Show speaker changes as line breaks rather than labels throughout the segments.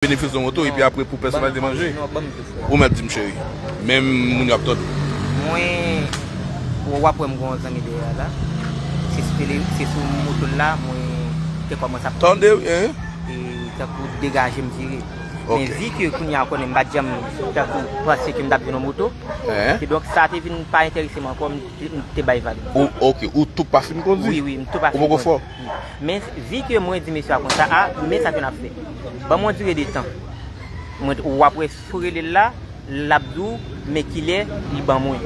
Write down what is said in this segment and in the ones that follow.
Benefis yon oto epi apre pou pèsonalite manje? Ou mèt di m cheri. Men moun yo ap tòde w. Mwen,
w ap wè m gen yon zanmi dèyè a la. Se sou tele, se sou moto l la mwen te kòmanse ap tande. Tande w, hein?
E tankou
degaje m vire. Men vi ke
kounye a ou konnen
m pa t janm tankou panse ke m t ap jwenn yon moto. Kidonk sa te vin pa enterese m ankò, m te bay vag. Ok, ou tou pa
fin kondi? Wi, wi, m tou pa fin kondi. Ou poko fò?
Men vi ke mwen di mesye a konsa, a, men sa ke nap fè. Banm yon dire de tan. Mwen, ou ap wè sou rele l la, lap di w men kilè li ban mwen.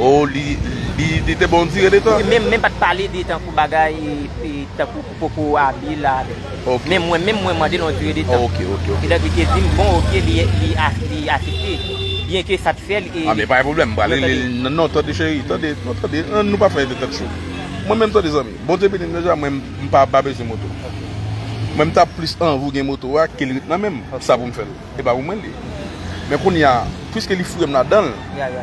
O, li,
li, li te ban w dire de tan? Wi, men, men pat pale de
tankou bagay, e, tankou pou poko abiye l la avè m. Ok. Men mwen menm
mwen mande
l yon dire de tan. Ok, ok, ok. Etan li te di m bon ok li, li a, li asepte. Byen ke sa t fè l e. A men pa gen pwoblèm, m pral
rele l. Non, non, tande cheri, tande, non tande, an nou pa fè tèt cho. Mwen menm tande zanmi. Bondye beni nou deja mwen m pa pa bezwen moto mwen m tap plis anvi w gen moto a kel ret nan menm sa pou m fèl e pa pou mwen l ye men kounya pwiske li foure m ladan l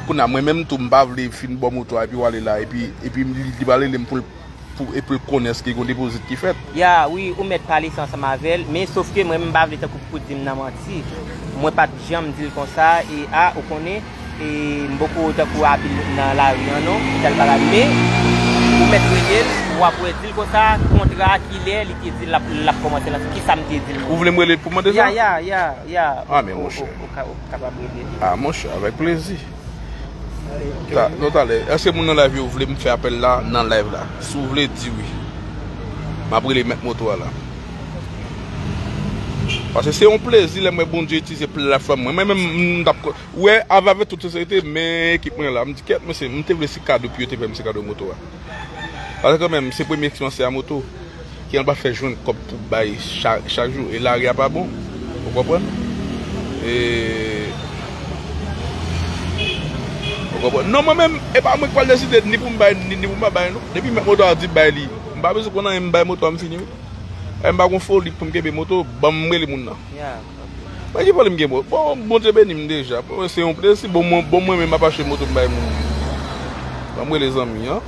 kounya mwen menm tou m pa vle fin baw moto a epi wale la epi epi li pral rele m pou l pou epi l konnen eske gon depozit ki fèt. Ya wi ou mèt pale
sa ansanm avèl men sofke mwen menm m pa vle tankou pou di m nan manti mwen pat janm di l konsa e a ou konnen. E m poko tankou apil nan lari an non pou tal bagay men ou mèt rele l wap wè dil konsa kontra kilè li te di l lap kòmanse lan kisa m te di l. Ou vle m rele l pou mande sa?
Ya ya ya Ah men monchè. Ou kapab rele li. Ah monchè avèk plezi. Bon talè èske moun nan live yo vle m fè apèl la nan live la si w vle di wi map rele mèt moto a la. Pase se yon plezi lèm wè Bondye itilize platfòm mwen. Mwen menm m tap kon wè avè avè tout sensèrite men ekip mwen la. M di kèt mwen se m te vle se kado pu yo te fèm se kado moto a. Pase kan menm se premye eksperyans se a moto ki anba fè jwenn kòb pou bay chak jou e lari a pa bon ou konprann. E ou konprann. Non mwen menm e pa mwen k pral deside ni pou m bay ni pou m pa bay non. Depi mèt moto a di bay li m pa bezwen konn anyen m bay moto a m fini wi. Epi m pa gon foli poum kenbe moto banm rele moun nan Mwen ki foli m gen bon Bondye beni m deja se yon plezi bon mwen menm map achte moto m bay moun banm rele zanmi an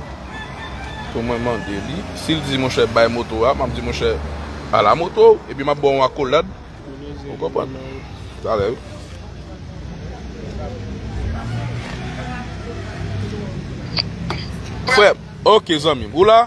pou mwen mande li si l di monchè bay moto a map di monchè ala moto w epi map ba w yon akolad ou konprann talè wi. Frèm ok zanmim ou la.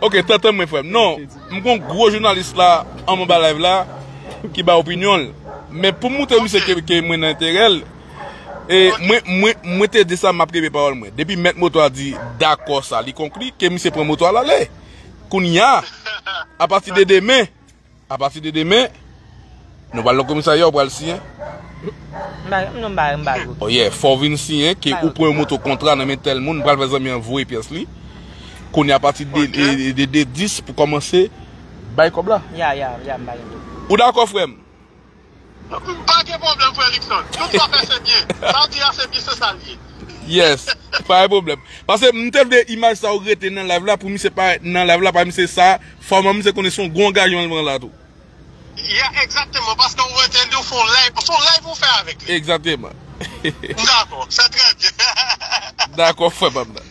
Ok tantan mwen frèm non m gon gro jounalis la anba live la ki bay opinyon l men pou m moutre misye ke mwen nan enterè l e mwen mwen te di sa map kenbe pawòl mwen depi mèt moto a di dakò sa li konkli ke misye pran moto a l ale kounya apati de demen. Apati de demen, nou pral nan komisarya ou pral siyen. Non m pa bay kopi. Oyè, fò w vin siyen ke ou pran yon moto kontra nan men tèl moun, m pral fè zanmi an voye pyès li. Kounye apati de de 10 pou kòmanse bay kòb la. Ya, ya, ya m pa gen kopi. Ou dakò frè m? Pa gen pwoblèm
frè Luckson, tout sa w fè se byen, sa w di a se byen se sa l ye. Yes,
pa gen pwoblèm. Pase m te vle imaj sa yo rete nan live la pou misye parèt nan live la pa misye sa fòma misye konnen son gwo angajeman li pran la tou. Yeah
exactement paske ou rete li ou fon live, son live ou fè avèk li. Exactement. M
dakò,
se trè byen. Dakò
frè pam nan.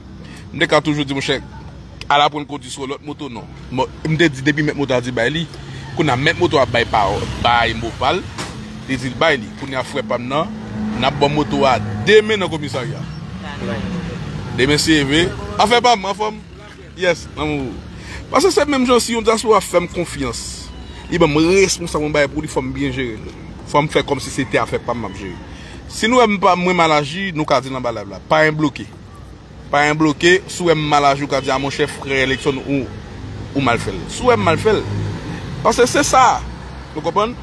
M te ka toujou di monchè al aprann kondi sou yon lòt moto non. M te di depi mèt moto a di bay li. Kounye a mèt moto a bay pawòl bay mo pa l. Li di l bay li. Kounye a frè pa m nan n ap ban moto a demen nan komisarya. Demen se ve. Afè pa m anfò m? Yes lanmou. Pase se menm jan si yon dyaspora fè m konfyans li ban m responsab yon bagay pou li fò m byen jere l. Fò m fè kòmsi se te afè pa m m ap jere. Si nou wè m pa mwen mal aji nou ka di l anba layv la. Pa enbloke. Pa en bloke, si w wè m mal aji w ka di a monchè frè Lexon ou mal fè l. Si w wè m mal fè l. Pase se sa. Nou konprann?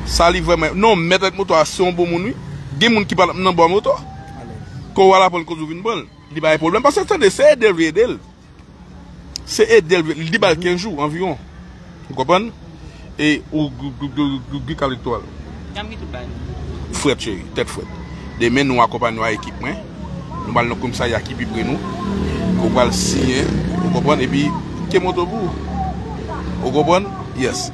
Sa li vrèman ye. Non, mèt ak moto a se yon bon moun wi. Gen moun ki pa nan bò a moto. Kò w al aprann kondi w vin pran l. Li pa gen pwoblèm. Pase tande se ede l vle ede l. Se edel vle li bal 15 jou anviron ou konprann e ou gou kal etwal fret cheri tet fret demen nou akonpany nou a ekip mwen nou bal nan komsarya ki pi pre nou nou bal siyen ou konprann epi ke moto pou ou konprann yes.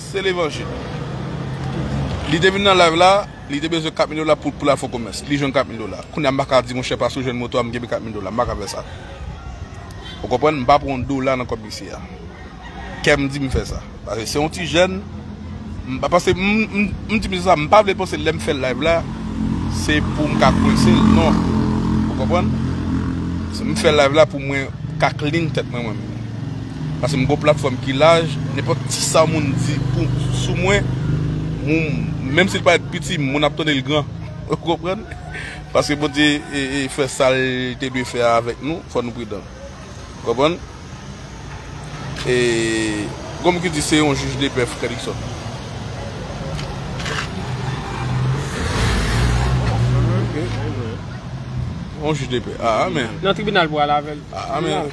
Se levanjil. Li te vin nan live la, li te bezwen 4 mil dola pou pou lal fon komès. Li jwenn 4 mil dola. Kounya m pa ka di monchè pase w jwenn moto a m genbe 4 mil dola. M pa ka fè sa. Ou konprann? M pa pran yon dola nan kòb mesye a. Kè m di m fè sa. Pase se yon ti jèn. M pa pase m m di mesye sa m pa vle l panse lè m fè live la se pou m ka kwense l non. Ou konprann? M fè live la pou mwen ka clean tèt mwen mwen menm. Paske m gon platfòm ki laj, nenpòt ti sa moun di pou sou mwen, moun menm si l parèt piti, moun ap tande l gran. Ou konprann? Paske Bondye fè sa l te dwe fè a avèk nou, fò nou pridan. Ou konprann? E gon moun ki di se yon jij depè frè Dickson. Yon jij depè. Amen. Nan tribinal pou al
avèl. Amen.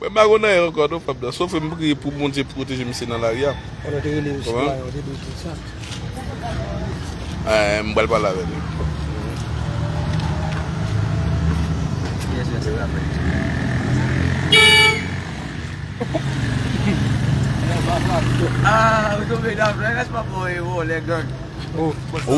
Mwen pa konn anyen ankò non fanm nan sof m priye pou Bondye pwoteje misye nan lari a Eeh m pral pale avè li.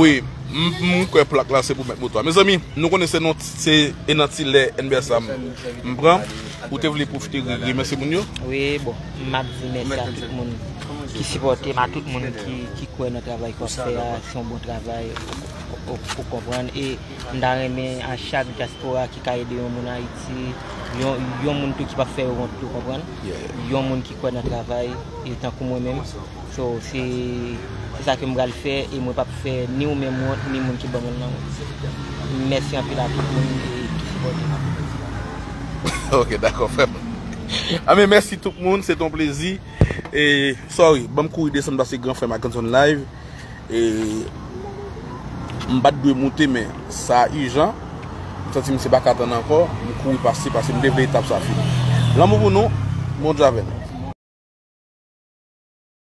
Wi m
kwè plak la se pou mèt moto a mezanmi nou konnen se non ti. Se e nan ti lè enber sa m pran ou te vle profite remèsye moun yo? Wi bon
map di mèsi a tout moun ki sipòte m a tout moun ki kwè nan travay k wap fè a se yon bon travay ou konprann e m ta renmen a chak dyaspora ki ka ede yon moun ayiti yon moun tou ki pap fè yo wont tou konprann yon moun ki kwè nan travay e tankou mwen menm So se se sa ke m pral fè e mwen pap fè ni ou menm wont ni moun ki ban mwen l nan wont. Mèsi anpil a tout moun ki sipòte m. Ok dakò frèm.
Anben mèsi tout moun se te yon plezi e sorry banm kouri desann pase gran frèm ak gran sèm live e m pat dwe moute men sa ijan m santi misye paka tann ankò m kouri pase pase m te vle etap sa fini. Lanmou pou nou Bondye avè nou.